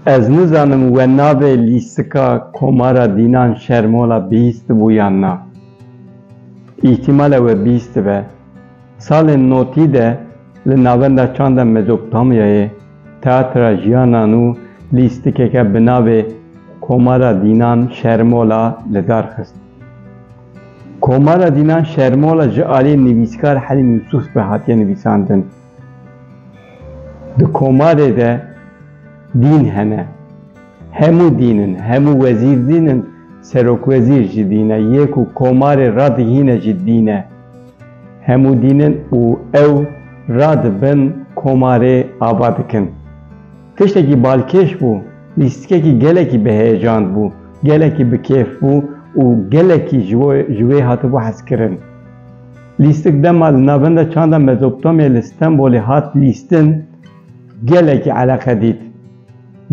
Ez nizanim we navê lîstika Komara Dînan Şermola bihîstibû yan na. Îhtîmal e we bihîstibe. Salên notî de li navenda çanda Mezopotamyayê Teatra Jiyana Nû lîstikeke bi navê Komara Dînan Şermola li dar xist. Komara Dînan Şermola ji aliyê nivîskar Helîm Yûsûf ve hatiye nivîsandin. Di komarê de dîn hene. Hemû dîn in, hemû wezîr dîn in, serokwezîr jî dîn e, yê ku komarê radihîne jî dîn e. Hemû dîn in û ew radibin komarê ava dikin. Tiştekî balkêş bû, lîstikekî gelekî bi heyecand bû, gelekî bi kêf bû û gelekî ji bo ji wê hatibû hezkirin. Lîstik dema li navenda çanda Mezopotamyayê li Stenbolê hat lîstin, gelekî eleqe dît.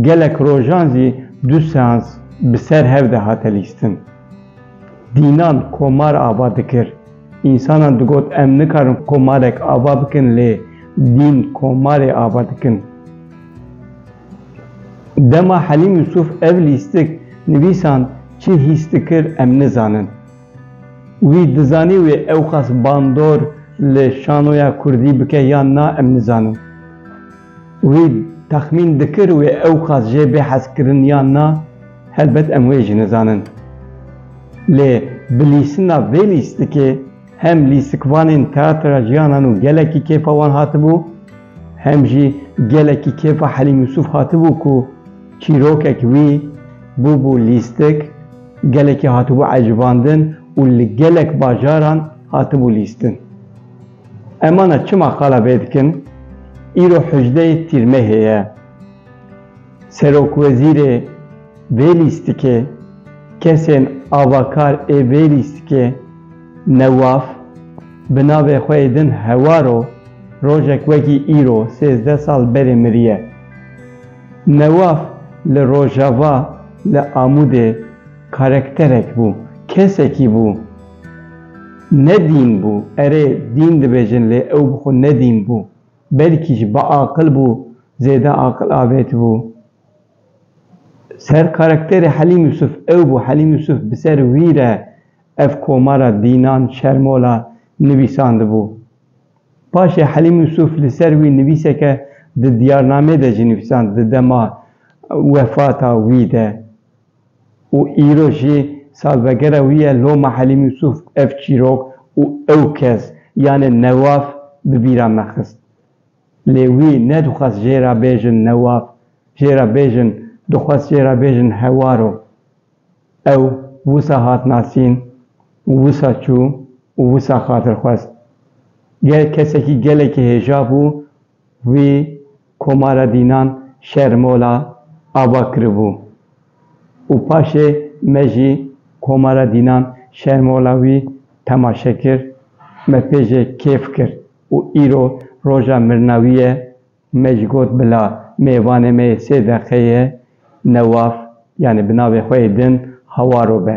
Gelek rojan jî du seans bi ser hev de hate lîstin. Dînan komar ava dikir. Însanan digot em nikarin komarek ava bikin lê dîn komarê ava dikin. Dema Helîm Yûsûf ev lîstik nivîsand çi hîs dikir em nizanin. Wî dizanî wê ewqas bandor li şanoya kurdî bike yan na em nizanin. Wî texmîn dikir wê ew qas jê bê hez kirin yan na, helbet em wê jî nizanin. Lê bi lîstina vê lîstikê hem lîstikvanên Teatra Jiyanan û gelekî kêfa wan hatibû, hem jî gelekî kêfa Helîm Yûsûf hatibû ku çîrokek wî bûbû lîstik, gelekî hatibû ecivandin û li gelek bajaran hatibû lîstin. Emana çima qala vê dikin? Îro hejdeyê Tîrmehê ye. Serokwezîrê vê lîstikê, kesên avakar ê vê lîstikê Newaf bi navê xwe yê din Hewaro rojek wekî îro sêzdeh sal berê miriye. Newaf li Rojava li Amûdê. Karakterek bû, kesekî bû. Ne dîn bû, erê dîn dibêjin lê ew bi xwe ne dîn bû. Belkî jî biaqil bû, zêde aqil avêtibû. Ser karakterê Helîm Yûsûf ew bû, Helîm Yûsûf bi ser wî re ev komara dînan, şermola nivîsandibû. Paşê Helîm Yûsûf li ser wî nivîseke di Diyarnameyê de jî nivîsand di dema wefata wî de. û îro jî salvegera wî ye Loma Helîm Yûsûf ev çîrok û ew kes yanê Newaf bi bîra me xist. Lê wî nedixwest jê re bêjin Newaf, jê re bêjin dixwest jê re bêjin Hewaro. Ew wisa hat nasîn û wisa çû û wisa xatir xwest. Gel kesekî gelekî hêja bû. Wî Komara Dînan Şermola ava kiribû û paşê me jî Komara Dînan Şermola wî temaşe kir, me pê jê kêf kir û îro roja mirina wî ye, me jî got bila mêvanê me yê sê deqeyê ye, Newaf yanî bi navê xwe yê din Hawaro be.